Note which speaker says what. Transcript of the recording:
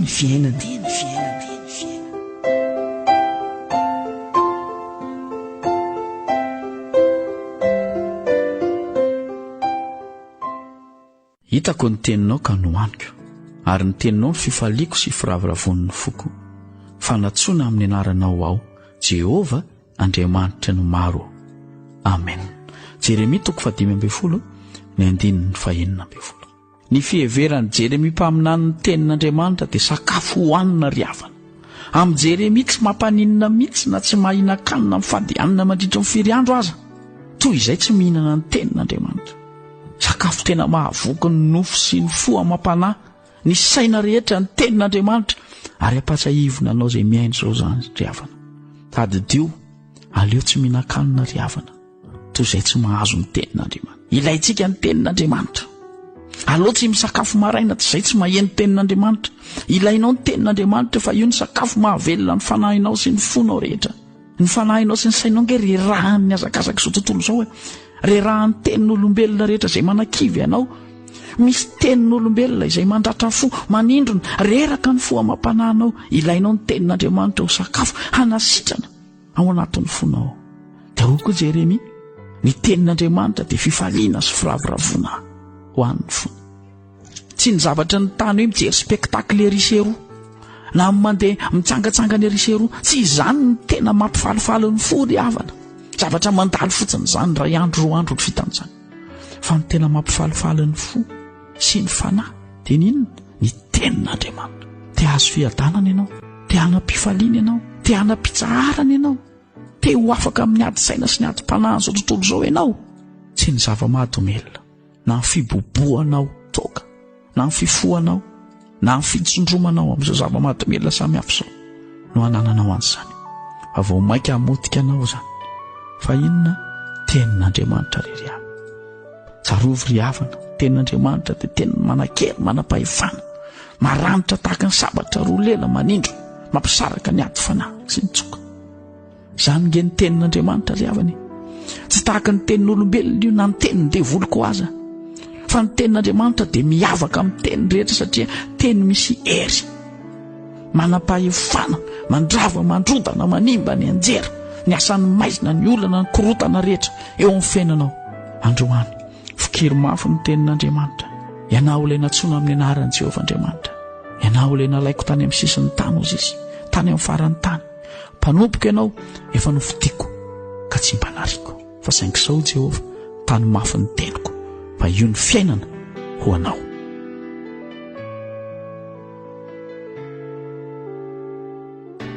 Speaker 1: ny fiainana.
Speaker 2: Hitako ny teninao ka nohaniko, ary ny teninao ny fifaliako sy firavoravoan'ny foko. Fanatsoina amin'ny anaranao aho, Jehovah, Andriamanitra ny maro. Amen. Jeremia toko fahadimy ambin'ny folo, ny andininy fahenina ambin'ny folo. Ny fiheveran'i Jeremia mpaminany ny Tenin'Andriamanitra dia sakafo hohanina ry havana. Amin'i Jeremia tsy mampaninona mihitsy na tsy mahinan-kanina mifady hanina mandritry ny firy andro aza toy izay tsy mihinana ny Tenin'Andriamanitra. Sakafo tena mahavoky ny nofo sy ny fo amam-panahy, ny saina rehetra ny Tenin'Andriamanitra ary ampahatsiahivo ny anao izay mihaino izao izany ry havana. Tadidio, aleo tsy mihinan-kanina ry havana. toy izay tsy mahazo ny tenin'Andriamanitra. Ilaintsika ny tenin'Andriamanitra. Aleo tsy misakafo maraina tsy izay tsy maheno tenin'Andriamanitra. Ilainao ny tenin'Andriamanitra fa io ny sakafo mahavelona ny fanahinao sy ny fonao rehetra. Ny fanahinao sy ny sainao nge rerahan'ny hazakazaka izao tontolo izao e. Rerahan'ny tenin'olombelona rehetra izay manakivy anao. Misy tenin'olombelona izay mandratra fo, manindrona, reraka ny fo amam-panahinao. Ilainao ny tenin'Andriamanitra ho sakafo hanasitrana. ao anatin'ny fonao. Tsarovy koa Jeremia, ny tenin'Andriamanitra dia fifaliana sy firavoravoana ho an'ny fo. Tsy ny zavatra ny tany hoe mijery spectacle ery sy eroa na mandeha mitsangatsangana ery sy eroa. Tsy izany ny tena mampifalifaly ny fo ry havana. Zavatra mandalo fotsiny izany, iray andro, roa andro, ny fitan'izany. Fa ny tena mampifalifaly ny fo sy ny fanahy dia ny inona ny tenin'Andriamanitra te hahazo fiadanana ianao te hanam-pifaliana ianao te hanam-pitsaharana ianao te ho afaka amin'ny ady saina sy ny ady mpanahy an'izao tontolo izao ianao tsy ny zava-mahadomelina na ny fibobohanao toaka na ny fifohanao na ny fitsondromanao amin'izao zava-mahadomelina samihafa izao no hanananao an'izany fa vao mainka hamotika anao izany fa inona tenin'andriamanitra rery ihany tsarovy ry havana tenin'andriamanitra dia teny manakery manam-pahefana maranitra tahaka ny sabatra roa lela manindro mampisaraka ny ady fanahy sy ny tsoka Izany nge ny tenin'Andriamanitra ry havana. Tsy tahaka ny tenin'olombelona io na ny tenin'ny devoly koa aza. Fa ny tenin'Andriamanitra dia miavaka amin'ny teny rehetra satria teny misy hery. Manam-pahefana, mandrava, mandrodana, manimba ny anjera, ny asan'ny maizina, ny olana, ny korotana rehetra eo amin'ny fiainanao. Androany, fikiry mafy ny tenin'Andriamanitra. Ianao ilay natsoina amin'ny anaran'i Jehovah Andriamanitra. Ianao ilay nalaiko tany amin'ny sisin'ny tany, hoy izy, tany amin'ny faran'ny tany. Mpanompoka ianao, efa nofidiko ka tsy mba nariko. Fa saingy sao Jehovah, tano mafy ny teniko, fa io ny fiainana ho anao.